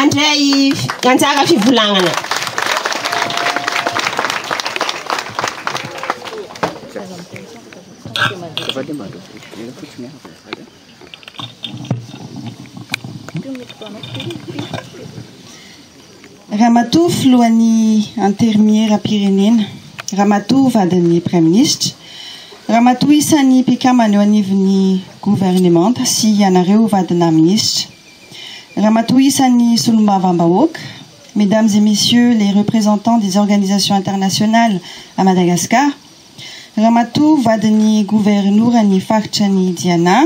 andray anjara fivolagnana Ramatoa filohan'ny Anterimieram-pirenena, Ramatoa vadin'ny Praiminisitra, Ramatoa isan'ny mpikambana eo anivon'ny Governemanta sy ianareo vadinà Minisitra, Ramatoa isan'ny Solombavambahoaka, Mesdames et Messieurs les représentants des organisations internationales à Madagascar, Ramatoa vadin'ny Governoran'ny Faritra ny Diana,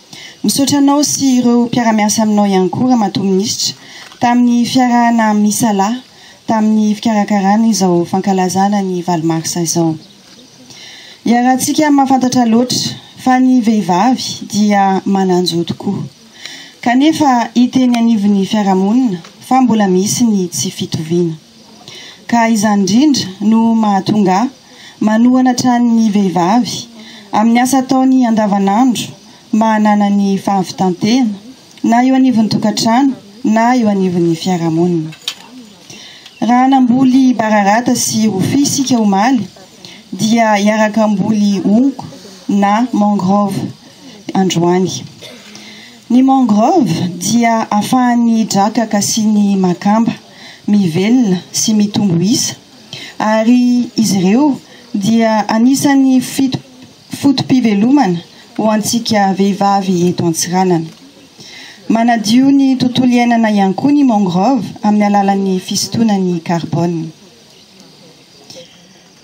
Misaotra anao sy ireo mpiara-miasa aminao ihany koa Ramatoa Minisitra tamin'ny fiarahana misalahy tamin'ny fikarakarana izao fankalazana ny valo marsa izao. Iarahantsika mahafantatra loatra fa ny vehivavy dia manan-jo tokoa, kanefa hita eny anivon'ny fiarahamonina fa mbola misy ny tsy fitoviana. ka izany indrindra no mahatonga ahy manohana hatrany ny vehivavy amin'ny asa ataony andavanandro mba hananany fahavitan-tena na eo anivon'ny tokantrano na eo anivon'ny fiarahamonina. Raha namboly bararata sy rofia isika omaly dia hiaraka hamboly honko na mangrove androany. Ny mangrove dia afahan'ny draka kasian'ny makamba. mivelona sy mitombo isa, ary izy ireo dia anisan'ny fito foto-pivelomana ho antsika vehivavy eto Antsiranana. Manadio ny tontolo iainana ihany koa ny mangrove amin'ny alalan'ny fisintonany carbone.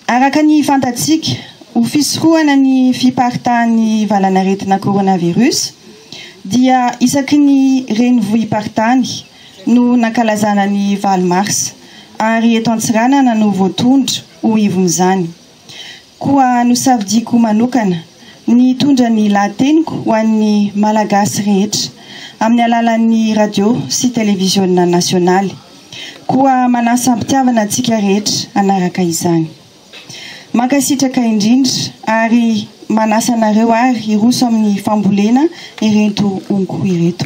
Araka ny fantatsika, ho fisorohana ny fiparitahan'ny valanaretina coronavirus dia isaky ny renivohi-paritany no nankalazana ny valo marsa ary eto Antsiranana no voatondro ho ivon'izany. Koa nosafidiako manokana ny hitondra ny lahateniko ho an'ny Malagasy rehetra amin'ny alalan'ny radio sy televiziona nasionaly. Koa manasa am-pitiavana antsika rehetra hanaraka izany. Mankasitraka indrindra ary manasa anareo ary hiroso amin'ny fambolena ireto honko ireto.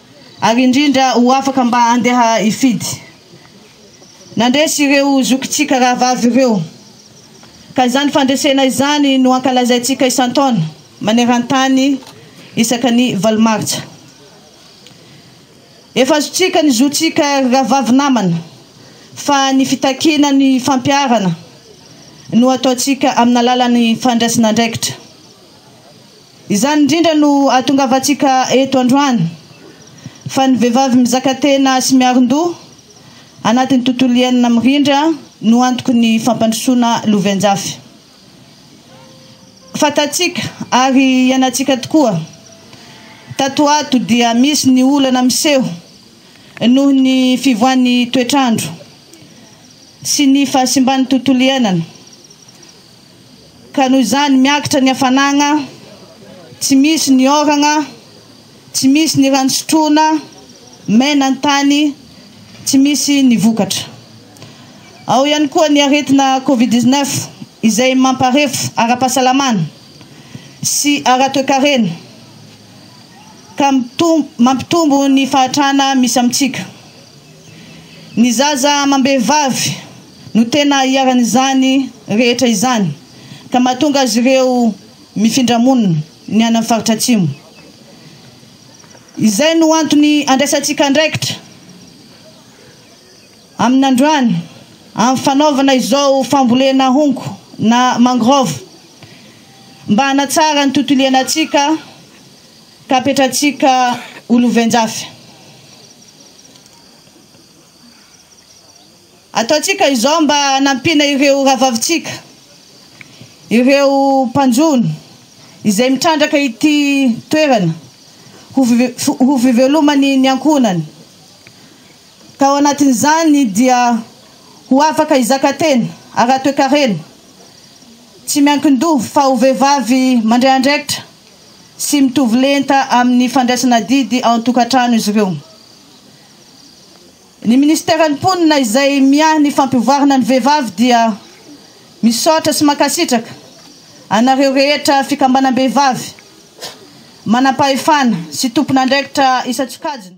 ary indrindra ho afaka mba handeha hifidy. Nandresy ireo zokintsika rahavavy ireo, ka izany fandresena izany no ankalazaintsika isan-taona maneran-tany isaka ny valo martsa. Efa azontsika ny zontsika ry rahavavy namana, fa ny fitakiana ny fampiharana no ataontsika amin'alalan'ny fandraisana andraikitra. Izany indrindra no ahatongavantsika eto androany, fa ny vehivavy mizaka tena sy miarindoha anatin'ny tontolo iainana mirindra no antoky ny fampandrosoana loven-jafy. Fantatsika ary iainantsika tokoa, tato ho ato dia misy ny olana miseho noho ny fivoahan'ny toetr'andro sy ny fahasimban'ny tontolo iainana. Ka noho izany miakatra ny hafanagna, tsy misy ny ôragna, tsy misy ny rano sotroina, maina ny tany, tsy misy ny vokatra. Ao ihany koa ny aretina covid 19 izay mamparefo ara-pahasalamana sy ara-toekarena ka mampitombo ny fahatrana misy amintsika. Ny zaza amam-behivavy. no tena iharan'izany rehetra izany ka mahatonga azy ireo mifindra monina ny any amin'ny faritra Atsimo. Izay no antony andraisantsika andraikitra amin'androany amin'ny fanaovana izao fambolena honko na mangrove mba hanatsara ny tontolo iainantsika ka hapetratsika ho lovenjafy. Ataontsika izao mba hanampiana ireo rahavavintsika, ireo mpanjono izay mitrandraka ity toerana ho fivelomany ny ankohonany, ka ao anatin'izany dia ho afaka hizaka tena ara-toekarena, tsy miankin-doha fa ho vehivavy mandray andraikitra sy mitovy lenta amin'ny fandraisana adidy ao an-tokantrano izy ireo. Ny Ministeran'ny Mponina izay miahy ny fampivoarana ny vehivavy dia misaotra sy mankasitraka anareo rehetra fikambanam-behivavy, manampahefana sy tompon'andraikitra isan-tsokajiny.